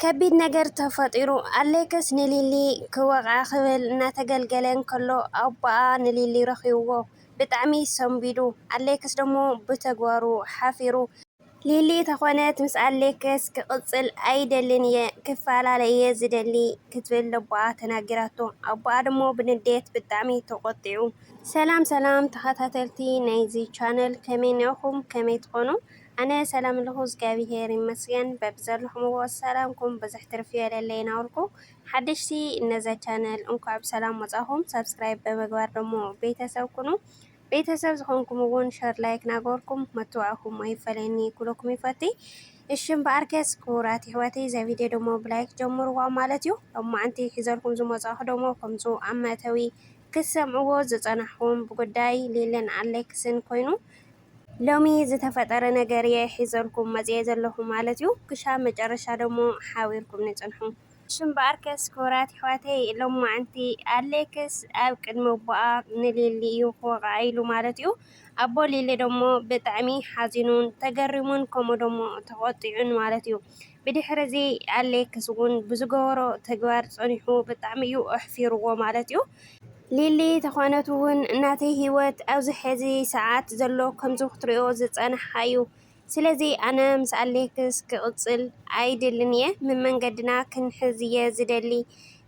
ከቢድ ነገር ተፈጢሩ፣ ኣሌክስ ንሊሊ ክወቕዓ ክብል እናተገልገለ እንከሎ ኣቦኣ ንሊሊ ረኺቡዎ ብጣዕሚ ሰንቢዱ፣ ኣሌክስ ደሞ ብተግባሩ ሓፊሩ። ሊሊ ተኾነት ምስ ኣሌክስ ክቕጽል ኣይደልን እየ ክፈላለ እየ ዝደሊ ክትብል ለቦኣ ተናጊራቶ፣ ኣቦኣ ደሞ ብንዴት ብጣዕሚ ተቖጢዑ። ሰላም ሰላም ተኸታተልቲ ናይዚ ቻነል ከመይ እኒኦኹም ከመይ ትኾኑ ኣነ ሰላም ኣለኩ እዝጋቢሄር ይመስገን በብዘለኩምዎ ሰላምኩም ብዝሕ ትርፍ ይበለለይ ናበልኩ ሓደሽቲ ነዛ ቻነል እንኳዕ ብሰላም መፃኩም ሳብስክራይብ ብምግባር ደሞ ቤተሰብ ኩኑ ቤተሰብ ዝኮንኩም እውን ሸር ላይክ ናገበርኩም መትባዕኩም ኣይፈለየኒ ኩለኩም ይፈትይ እሽም በኣርከስ ክቡራት ይሕዋተይ እዛ ቪድዮ ደሞ ብላይክ ጀምርዋ ማለት እዩ ሎማዓንቲ ሒዘልኩም ዝመፃኹ ደሞ ከምፁ ኣብ መእተዊ ክትሰምዕዎ ዝፀናሕኹም ብጉዳይ ሊልን ኣሌክስን ኮይኑ ሎሚ ዝተፈጠረ ነገር እየ ሒዘልኩም መፂኤ ዘለኹ ማለት እዩ ክሻብ መጨረሻ ደሞ ሓቢርኩምኒ ፅንሑ። እሺ እምበኣርከስ ክቡራት የሕዋተይ ሎማዓንቲ ኣሌክስ ኣብ ቅድሚ ኣቦኣ ንሊሊ እዩ ክወቕዓ ኢሉ ማለት እዩ ኣቦ ሊሊ ደሞ ብጣዕሚ ሓዚኑን ተገሪሙን ከምኡ ደሞ ተቖጢዑን ማለት እዩ ብድሕሪዚ ኣሌክስ እውን ብዝገበሮ ተግባር ፀኒሑ ብጣዕሚ እዩ ኣሕፊርዎ ማለት እዩ። ሊሊ ተኾነት እውን ናተይ ሂወት ኣብዚ ሕዚ ሰዓት ዘሎ ከምዚ ክትሪኦ ዝፀናሕኻ እዩ ስለዚ ኣነ ምስ ኣሌክስ ክቅፅል ኣይደልን እየ መመንገድና ክንሕዝ እየ ዝደሊ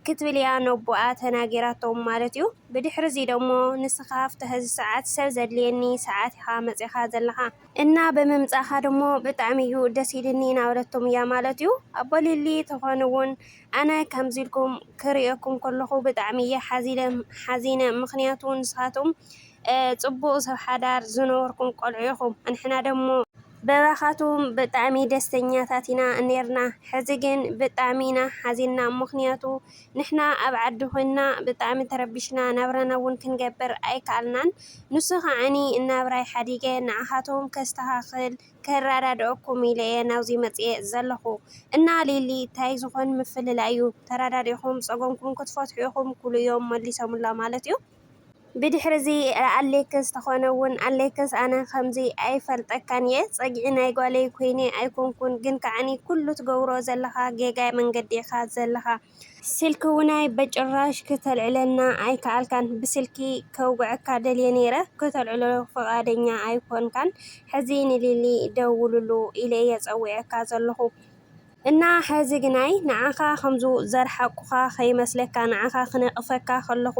ክትብል እያ ነቦኣ ተናጊራቶም ማለት እዩ። ብድሕሪዚ ደሞ ንስኻ ኣብቲ ሕዚ ሰዓት ሰብ ዘድልየኒ ሰዓት ኢኻ መፂእኻ ዘለኻ እና ብምምጻኻ ደሞ ብጣዕሚ እዩ ደስ ኢልኒ እናበለቶም እያ ማለት እዩ። ኣቦ ሊሊ ተኾኑ እውን ኣነ ከምዚ ኢልኩም ክርእየኩም ከለኹ ብጣዕሚ እየ ሓዚነ ምክንያቱ ንስኻትኩም ጽቡቅ ሰብ ሓዳር ዝነበርኩም ቆልዑ ኢኹም ኣንሕና ደሞ በባኻትኩም ብጣዕሚ ደስተኛታት ኢና ኔርና ሕዚ ግን ብጣዕሚ ኢና ሓዚንና ምክንያቱ ንሕና ኣብ ዓዲ ኮይንና ብጣዕሚ ተረቢሽና ናብራና ውን ክንገብር ኣይካኣልናን ንሱ ካዓኒ ናብራይ ሓዲገ ንዓካትኩም ከስተካክል ከራዳድኣኩም ኢለ እየ ናብዙይ መፅየ ዘለኩ እና ሊሊ ታይ ዝኮን ምፍልላይ እዩ ተራዳዲእኩም ፀገምኩም ክትፈትሑ ኢኩም ኩሉ እዮም መሊሶምላ ማለት እዩ ብድሕሪ እዚ ኣሌክስ ተኮነውን ኣሌክስ ኣነ ከምዚ ኣይፈልጠካን እየ ፀግዒ ናይ ጓለይ ኮይነ ኣይኮንኩን ግን ካዓኒ ኩሉ ትገብሮ ዘለካ ጌጋ መንገዲ ኢካ ዘለካ ስልኪ ውናይ በጭራሽ ክተልዕለና ኣይካኣልካን ብስልኪ ከውግዐካ ደልየ ነይረ ክተልዕሎ ፍቃደኛ ኣይኮንካን ሕዚ ንሊሊ ደውልሉ ኢለ እየ ፀዊዐካ ዘለኩ እና ሐዚ ግናይ ንዓኻ ከምዙ ዘርሓቁኻ ከይመስለካ ንዓኻ ክነቅፈካ ከለኹ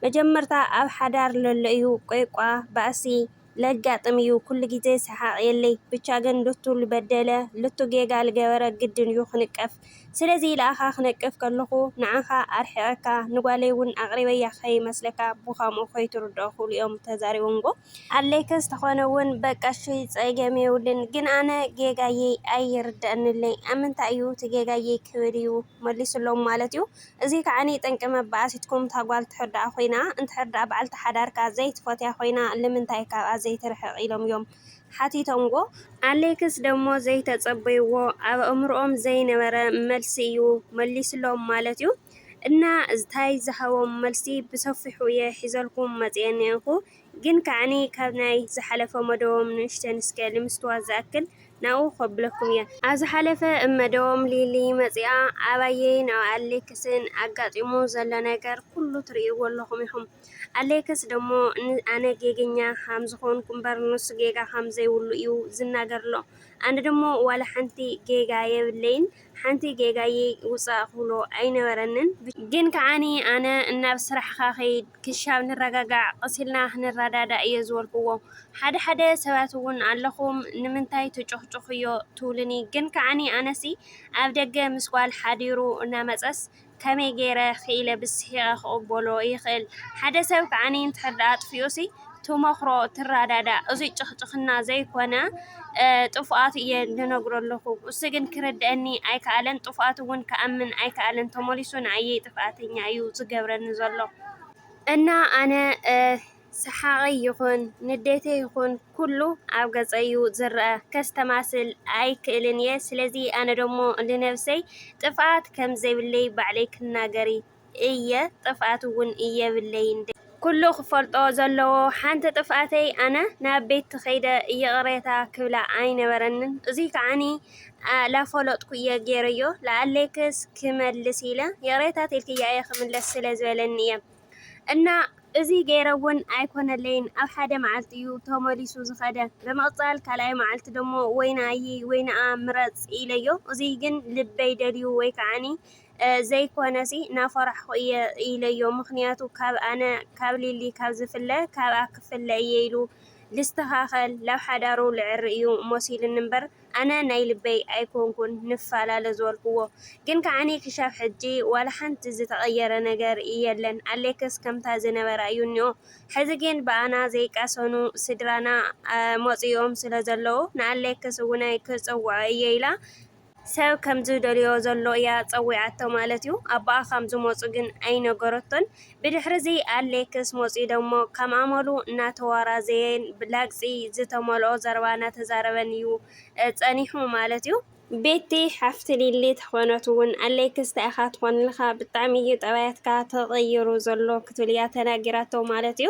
መጀመርታ ኣብ ሓዳር ለሎ እዩ ቆይቋ ባእሲ ለጋጥም እዩ ኩሉ ግዜ ሰሓቅ የለይ ብቻ ግን ልቱ ልበደለ ልቱ ጌጋ ልገበረ ግድን እዩ ክንቀፍ ስለዚ ልኣኻ ክነቅፍ ከለኹ ንዓኻ ኣርሒቀካ ንጓለይ እውን ኣቅሪበያ ከይመስለካ ብካምኡ ከይትርድኦ ክብሉ እዮም ተዛሪቦምዎ። ኣለይከ ዝተኮነ ውን በቃ እሺ ጸገም የብሉን ግን ኣነ ጌጋየይ ኣይርደኣንለይ ኣብ ምንታይ እዩ እቲ ጌጋየይ ክብል እዩ መሊሱሎም ማለት እዩ እዙይ ከዓ ጠንቂ መባኣሲትኩም እታ ጓል ትሕርዳኣ ኮይና እንድሕር ዳኣ ባዓልቲ ሓዳርካ ዘይትፈትያ ኮይና ልምንታይ ካብኣ ዘይትርሕቅ ኢሎም እዮም ሓቲቶምዎ ኣለይክስ ደሞ ዘይተጸበይዎ ኣብ ኣእምርኦም ዘይነበረ መልሲ እዩ መሊሱሎም ማለት እዩ እና እታይ ዝሃቦም መልሲ ብሰፊሑ እየ ሒዘልኩም መጽየ እኔኩ ግን ከኣኒ ካብ ናይ ዝሓለፈ መደቦም ንእሽተን እስከ ልምስትዋት ዝኣክል ናብኡ ከብለኩም እየ። ኣብ ዝሓለፈ እብ መደቦም ሊሊ መጺኣ ኣባየይ ናብ ኣሌክስን ኣጋጢሙ ዘሎ ነገር ኩሉ ትርእይዎ ኣለኹም ኢኹም። ኣሌክስ ደሞ ን ኣነ ጌገኛ ከም ዝኾንኩ እምበር ንሱ ጌጋ ከም ዘይብሉ እዩ ዝናገር'ሎ። ኣነ ደሞ ዋላ ሓንቲ ጌጋ የብለይን ሓንቲ ጌጋይ ውፃእ ክብሎ ኣይነበረንን ግን ከዓኒ ኣነ እናብ ስራሕኻ ከይድ ክሻብ ንረጋጋዕ ቐስ ኢልና ክንረዳዳእ እየ ዝበልክዎ ሓደ ሓደ ሰባት እውን ኣለኹም ንምንታይ ትጭኹጭኹዮ ትብሉኒ ግን ከዓኒ ኣነሲ ኣብ ደገ ምስ ጓል ሓዲሩ እናመፀስ ከመይ ገይረ ክኢለ ብስሒቐ ክቕበሎ ይኽእል? ሓደ ሰብ ከኣ እንድሕር ደኣ ኣጥፊኡሲ ትመኽሮ ትረዳዳእ እዙይ ጭኽጭኽና ዘይኮነ ጥፍኣቱ እየ ልነግሮ ኣለኹ እሱ ግን ክርድኣኒ ኣይከኣለን ጥፍኣቱ እውን ክኣምን ኣይከኣለን ተመሊሱ ንኣየይ ጥፍኣተኛ እዩ ዝገብረኒ ዘሎ እና ኣነ ሰሓቐይ ይኹን ንዴተይ ይኹን ኩሉ ኣብ ገጸይ'ዩ ዝረኣ፣ ከስተማስል ኣይክእልን'የ፣ ስለዚ ኣነ ደሞ ንነብሰይ ጥፍኣት ከም ዘይብለይ ባዕለይ ክናገር እየ፣ ጥፍኣት'ውን የብለይን፣ ዴ። ኩሉ ክፈልጦ ዘለዎ ሓንቲ ጥፍኣተይ ኣነ ናብ ቤቲ ከይደ ይቕሬታ ክብላ ኣይነበረንን፣ እዙይ ከዓኒ ላፈለጥኩ'የ ጌረዮ፣ ለኣሌክስ ክመልስ ኢለ ይቕሬታ ተልክያ'የ ክምለስ ስለ ዝበለኒ'የ፣ እና እዚ ገይረ ውን ኣይኮነለይን ኣብ ሓደ መዓልቲ እዩ ተመሊሱ ዝኸደ ብምቅፃል ካልኣይ መዓልቲ ደሞ ወይ ንኣይ ወይ ንኣ ምረፅ ኢለዮ እዙይ ግን ልበይ ደልዩ ወይ ከዓ ዘይኮነሲ ናፈራሕኹ እየ ኢለዮ ምኽንያቱ ካብ ኣነ ካብ ሊሊ ካብ ዝፍለ ካብኣ ክፍለ እየ ኢሉ ልስተኻኸል ላብ ሓዳሩ ልዕሪ እዩ መሲሉኒ እምበር ኣነ ናይ ልበይ ኣይኮንኩን ንፋላለ ዝበልክዎ ግን ከዓኒ ክሻብ ሕጂ ዋላ ሓንቲ ዝተቀየረ ነገር የለን ኣሌክስ ከምታ ዝነበራ እዩ እኒኦ ሕዚ ግን ብኣና ዘይቃሰኑ ስድራና መፂኦም ስለ ዘለዉ ንኣሌክስ እዉነ ክፅዉዖ እየ ኢላ ሰብ ከምዝደልዮ ዘሎ እያ ፀዊዓቶ ማለት እዩ ኣቦኣ ከምዝመፁ ግን ኣይነገረቶን ብድሕሪ'ዚ ኣሌክስ መጺኡ ደሞ ከም ኣመሉ እናተዋራዘየን ብላግጺ ዝተመልኦ ዘረባ እናተዛረበን'ዩ ጸኒሑ ማለት'ዩ። ቤቲ ሓፍቲ ሊሊ ተኾነት'ውን ኣሌክስ ታይ ኢኻ ትኾንልካ ብጣዕሚ'ዩ ጠባያትካ ተቐይሩ ዘሎ ክትብል'ያ ተናጊራቶ ማለት'ዩ።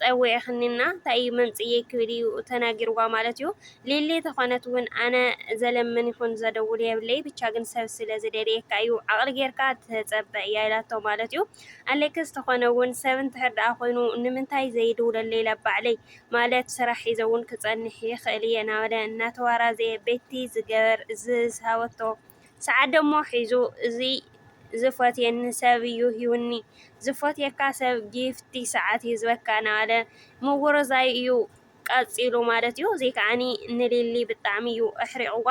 ጸዊዕክኒ እና ታይ እዩ መምጽኢየይ ክብል እዩ ተናጊርዋ ማለት እዩ ሊሊ ተኮነት ውን ኣነ ዘለምን ይኩን ዘደውል የብለይ ብቻ ግን ሰብ ስለ ዝደልየካ እዩ ዓቅሊ ገርካ ተጸበ እያ ኢላቶ ማለት እዩ ኣሌክስ ተኮነ ውን ሰብ እንድሕር ደኣ ኮይኑ ንምንታይ ዘይድውለለይ ላብ ባዕለይ ማለት ስራሕ ሒዘ ውን ክጸንሕ ይክእል እየ ናበለ እናተዋራዘየ ቤቲ ዝገበር ዝሃበቶ ሰዓትደሞ ሒዙ እዚ ዝፈትየኒ ሰብ እዩ ሂቡኒ ዝፈትየካ ሰብ ጊፍቲ ሰዓት ይህዝበካ ናበለ ምውርዛይ እዩ ቀጺሉ ማለት እዩ እዚ ከዓኒ ንሊሊ ብጣዕሚ እዩ ኣሕሪቅዋ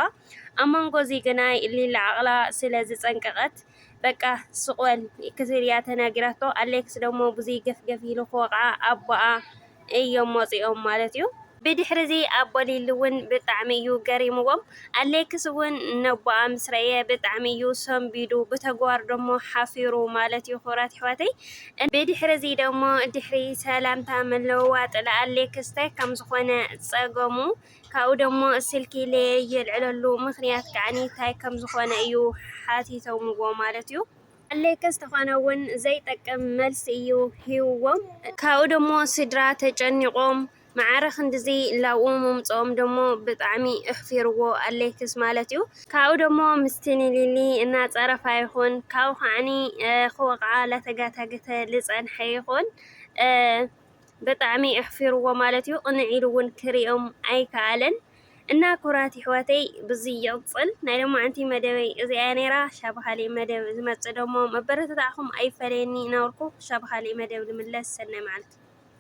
ኣብ መንጎ እዚ ግናይ ሊሊ ዓቅላ ስለ ዝጸንቀቀት በቃ ስቅ በል ክትብል እያ ተናጊራቶ ኣሌክስ ደሞ ብዙይ ገፍገፍ ኢሉ ክወቅዓ ኣቦኣ እዮም መጺኦም ማለት እዩ። ብድሕሪዚ ኣቦ ሊሊ እውን ብጣዕሚ እዩ ገሪምዎም ኣሌክስ እውን ነቦኣ ምስ ረኤ ብጣዕሚ እዩ ሰንቢዱ ብተግባር ደሞ ሓፊሩ ማለት እዩ ክብራት ኣሕዋተይ ብድሕሪዚ ደሞ ድሕሪ ሰላምታ ምልውዋጥ ንኣሌክስ ታይ ከምዝኾነ ፀገሙ ካብኡ ደሞ ስልኪ ለየልዕለሉ ምኽንያት ከዓኒ ታይ ከምዝኾነ እዩ ሓቲቶምዎ ማለት እዩ። ኣድለይከ ዝተኾነ ውን ዘይጠቅም መልሲ እዩ ሂብዎም። ካብኡ ደሞ ስድራ ተጨኒቆም ማዕረ ክንድዚ ላብኡ ምምጽኦም ደሞ ብጣዕሚ እሕፊርዎ ኣድለይክስ ማለት እዩ። ካብኡ ደሞ ምስቲ ንሊሊ እናጸረፋ ይኹን ካብኡ ከዓኒ ክወቕዓ ላተጋታገተ ልጸንሐ ይኹን ብጣዕሚ እሕፊርዎ ማለት እዩ። ቅንዕ ኢሉ ውን ክሪኦም ኣይከኣለን። እና ኩቡራት የሕዋተይ ብዙይ ይቅጽል ናይ ሎማዓንቲ መደበይ እዚኣ እያ ነይራ ክሻ ብካሊእ መደብ ዝመጽእ ደሞ መበረታትዕኩም ኣይፈለየኒ እናበልኩ ክሻ ብካሊእ መደብ ንምለስ ሰናይ ማዓልቲ።